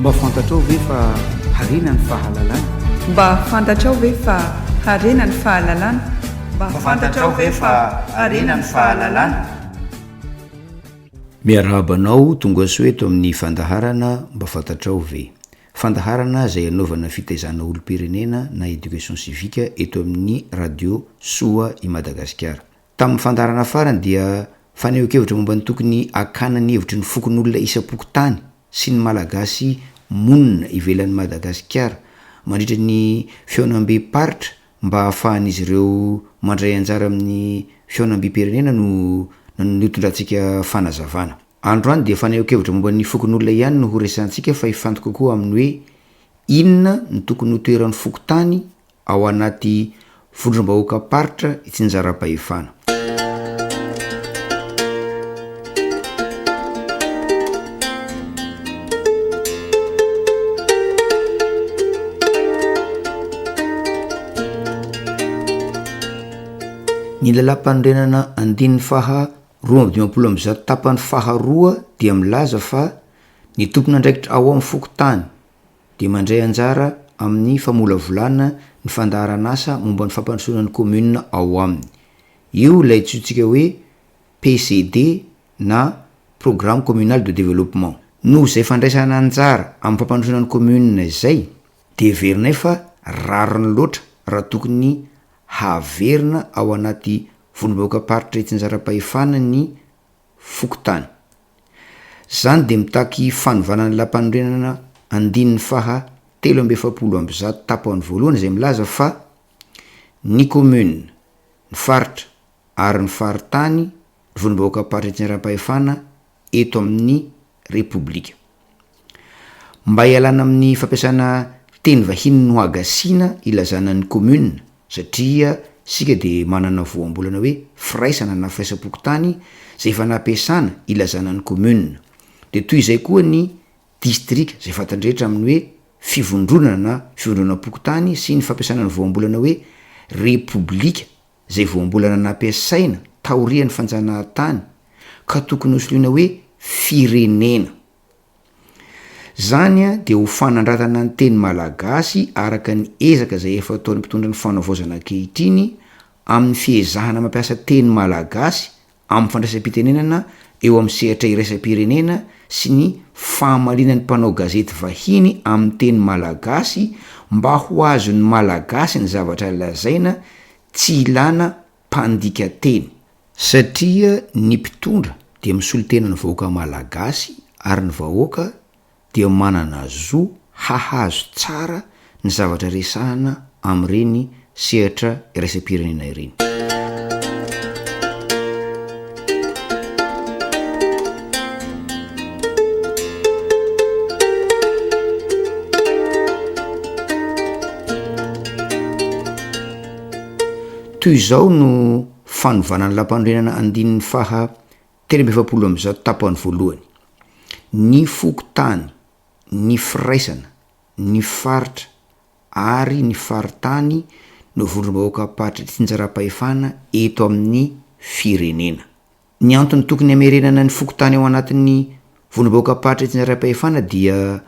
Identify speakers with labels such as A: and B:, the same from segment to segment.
A: Mba fantatrao ve fa harena ny fahalalana? Mba
B: fantatrao ve fa harena ny fahalalana? Mba fantatrao ve fa harena ny fahalalana?
C: Miarahaba anao, tonga soa eto amin'ny fandaharana Mba fantatrao ve? Fandaharana izay anaovana fitaizana olom-pirenena na éducation civique eto amin'ny radio Soa i Madagasikara. Tamin'ny fandaharana farany dia fanehoan-kevitra momba ny tokony hakana ny hevitry ny fokonolona isam-pokontany sy ny Malagasy monina ivelan'i Madagasikara mandritra ny fihaonambem-paritra mba hahafahan'izy ireo mandray anjara amin'ny fihaonambem-pirenena no notondrantsika fanazavana. Androany dia fanehoan-kevitra momba ny fokonolona ihany no horesahantsika fa hifantoka koa amin'ny hoe inona no tokony ho toeran'ny fokontany ao anaty vondrom-bahoakam-paritra i Tsinjarabahefana. Ny lalàmpanorenana andininy faha roa amby dimampolo amby zato tapany faharoa dia milaza fa ny tompon'andraikitra ao amin'ny fokontany dia mandray anjara amin'ny famolavolana ny fandaharan'asa momba ny fampandrosoana ny kaominina ao aminy. Io ilay antsointsika hoe PCD na Programme Communal de Développement. Noho izay fandraisana anjara amin'ny fampandrosoana ny kaominina izay dia heverinay fa rariny loatra raha tokony haverina ao anaty Vondrom-bahoakam-paritra Itsinjaram-pahefana ny fokontany. Izany dia mitaky fanovana ny lampanorenana andininy faha telo amby efapolo amby zato tapany voalohany izay milaza fa Ny Commune, ny Faritra ary ny Faritany, Vondrom-bahoakam-paritra Etsy Andram-pahefana eto amin'ny Repoblika. Mba hialana amin'ny fampiasana teny vahiny no hagasiana ilazana ny commune satria isika dia manana voambolana hoe firaisana na firaisam-pokontany izay efa nampiasana ilazana ny commune. Dia toy izay koa ny distrika izay fantan-drehetra amin'ny hoe fivondronana na fivondronam-pokontany sy ny fampiasana ny voambolana hoe repoblika izay voambolana nampiasaina taorian'ny fanjanahantany ka tokony hosoloina hoe firenena. Izany dia ho fanandratana ny teny malagasy araka ny ezaka izay efa ataon'ny mpitondra ny fanaovaozana ankehitriny amin'ny fiezahana mampiasa teny malagasy amin'ny fandraisam-pitenenana eo amin'ny sehatra iraisam-pirenena sy ny fahamaliana ny mpanao gazety vahiny amin'ny teny malagasy mba ho azon'ny Malagasy ny zavatra lazaina tsy ilana mpandika teny. Satria ny mpitondra dia misolo tena ny vahoaka malagasy ary ny vahoaka dia manana zo hahazo tsara ny zavatra resahana amin'ireny sehatra iraisam-pirenena ireny. Toy izao no fanovana ny lampanorenana andininy faha Telo amby efapolo amby zato tapany voalohany, ny fokontany, ny firaisana, ny faritra ary ny faritany no vondrom-bahoaka mpampahatra tsinjaram-pahefana eto amin'ny firenena. Ny antony tokony hamerenana ny fokontany ao anatin'ny Vondrom-bahoakam-paritra eto Andraipahefana dia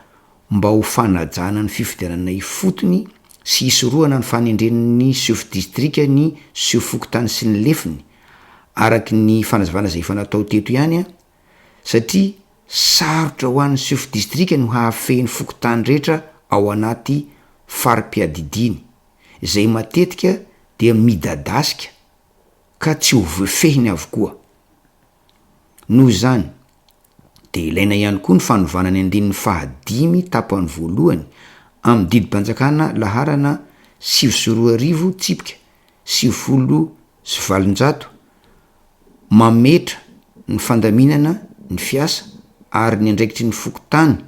C: mba ho fanajana ny fifidianana ifotony sy hisorohana ny fanendren'ny sefo distrika ny sefo fokontany sy ny lefiny, araka ny fanazavana izay efa natao teto ihany an, satria sarotra ho an'ny sefo distrika ny hahafehy ny fokontany rehetra ao anaty fari-piadidiany, izay matetika dia midadasika ka tsy ho voafehiny avokoa. Noho izany, dia ilaina ihany koa ny fanovana ny andininy fahadimy tapany voalohany amin'ny didim-panjakana laharana sivy sy roa arivo tsipika sivifolo sy valonjato mametra ny fandaminana ny fiasa ary ny andraikitry ny fokontany,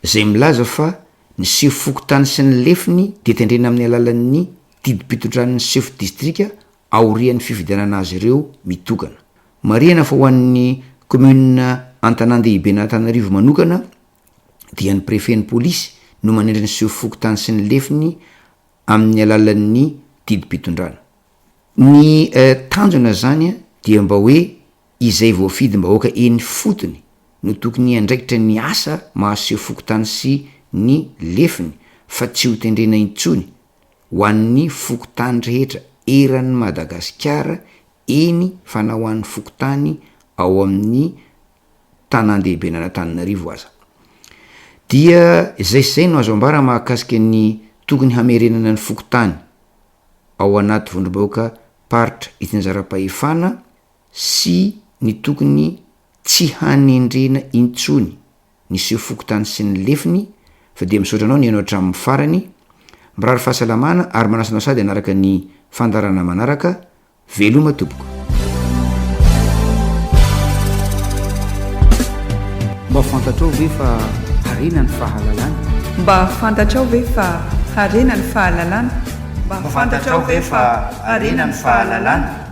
C: izay milaza fa ny sefo fokontany sy ny lefiny dia tendrena amin'ny alalan'ny didim-pitondran'ny sefo distrika aorian'ny fifidianana azy ireo mitokana. Marihana fa ho an'ny kaominina Antanandehiben'Antananarivo manokana dia ny prefen'ny polisy no manendry ny seho fokontany sy ny lefiny amin'ny alalan'ny didim-pitondrana. Ny tanjona izany dia mba hoe izay voafidim-bahoaka eny ifotony no tokony hiandraikitra ny asa maha seho fokontany sy ny lefiny fa tsy hotendrena intsony ho an'ny fokontany rehetra eran'i Madagasikara, eny fa na ho an'ny fokontany ao amin'ny tanàndehiben'Antananarivo aza. Dia izay sy izay no azo ambara mahakasika ny tokony hamerenana ny fokontany ao anaty vondrom-bahoaka paritra itsinjaram-pahefana sy ny tokony tsy hanendrena intsony. niseho fokontany sy ny lefiny fa dia misaotra anao nihaino hatramin'ny farany, mirary fahasalamana ary manasa anao sady hanaraka ny fandaharana manaraka, veloma tompoko.
A: Mba fantatrao ve fa harena ny fahalalana? Mba
B: fantatrao ve fa harena
A: ny
B: fahalalana?
A: Mba
B: fantatrao
A: ve
B: fa
A: harena ny
B: fahalalana?